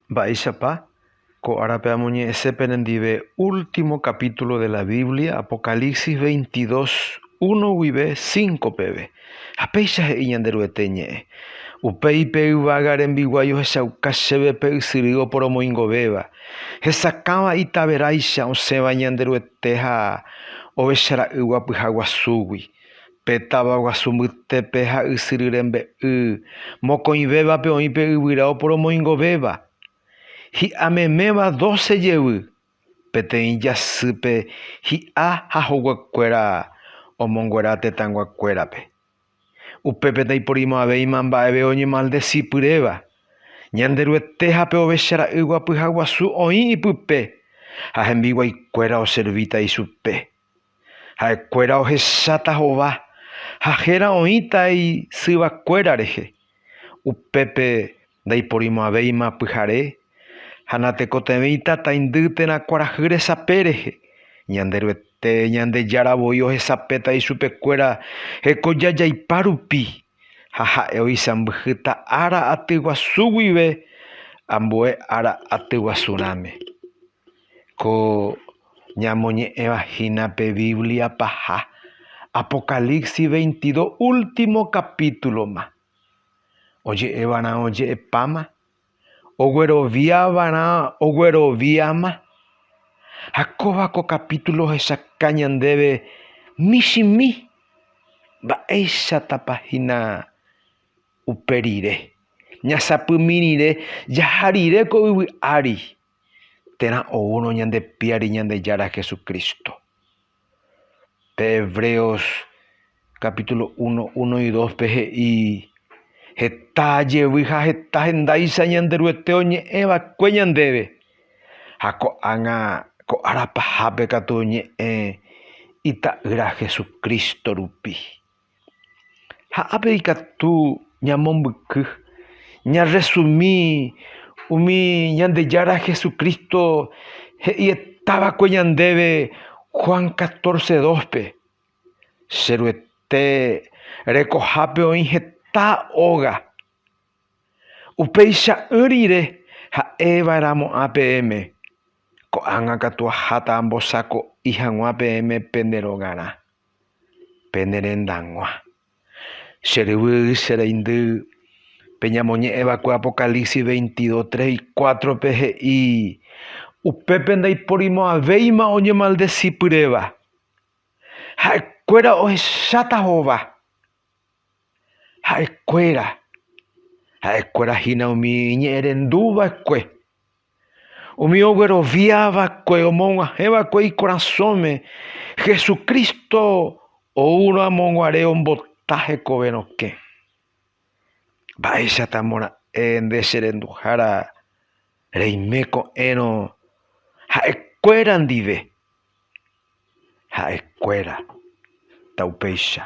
Mba'éichapa? Ko árape amoñe'ẽse penendive último capítulo de la Biblia, Apocalipsis veintidós, uno guive cinco peve. Ha péicha he'i Ñanderuete Ñe'ẽ, Upéi pe yvága rembiguái ohechauka chéve pe ysyry oporomoingovéva, hesakãva itaveráicha osẽva Ñanderuete ha Ovechara'ỹgua pyhaguasúgui. Pe táva guasu mbytépe ha ysyry rembe'y mokõivévape oĩ pe yvyra oporomoingovéva, hi'a meméva doce jevy, peteĩ jasýpe hi'a ha hoguekuéra omonguera tetãnguakuérape. Upépe ndaiporimo'ãvéima mba'eve oñemaldesi pyréva. Ñanderuete ha pe ovecha ra'y guapyha guasu oĩ ipype, ha hembiguaikuéra oservíta ichupe. Ha'ekuéra ohecháta hova ha héra oĩta isyvakuéra rehe. Upépe ndaiporimo'ãvéima pyhare ha natekotevẽita taindy térã kuarahy resape rehe. Ñanderuete Ñandejára voi ohesapéta ichupekuéra hekoja jaipa rupi, ha ha'e oisãmbyhýta ára aty guasu guive ambue ára aty guasu rãme. Ko ñamoñe'ẽva hína pe Biblia paha Apocalipsis veintidó último capítulo-ma, oje'evarã oje'epáma, ogueroviavarã ogueroviáma. Ha kóva ko kapítulo ohechauka ñandéve michĩmi mba'éichatapa hína upe rire. Ñasapymi rire jaha rire ko yvy ári. térã oúrõ ñande Piári Ñandejára Jesucristo. Pe Hebreos capítulo 1, 1 y 2 pe he'i, Heta jevy ha heta hendáicha Ñanderuete oñe'ẽ va'ekue ñandéve, ha ko'ág̃a ko ára pahápe katu oñe'ẽ Ita'ýra Jesucristo rupi. Ha ápe ikatu ñamombyky ñarresumi umi Ñandejára Jesucristo he'ietava'ekue ñandéve Juan catorce dóspe, Che Ruete rekohápe oĩ heta óga, upeicha'ỹ rire ha'eva'erãmo ã peẽme, ko'ág̃a katu aháta ambosako'i hag̃ua peẽme pende rogarã. pene rendag̃ua. Che ryvy che reindy, pe ñamoñe'ẽ va'ekue Apocalipsis 22, 3 y 4 pe he'i, Upépe ndaiporimo'ãvéima oñemaldeci pyréva. Ha'ekuéra ohecháta hova. Ha'ekuéra, ha'ekuéra hína umi iñe'ẽrendu va'ekue. Umi oguerovia va'ekue omog̃uahẽ va'ekue ikorasõme, Jesucristo oúrõamoguare ombota hekove rokẽ. Mba'éichatamora'e nde che renduhára reime ko'ẽrõ ha'ekuéra ndive. Ha'ekuéra ta upéicha.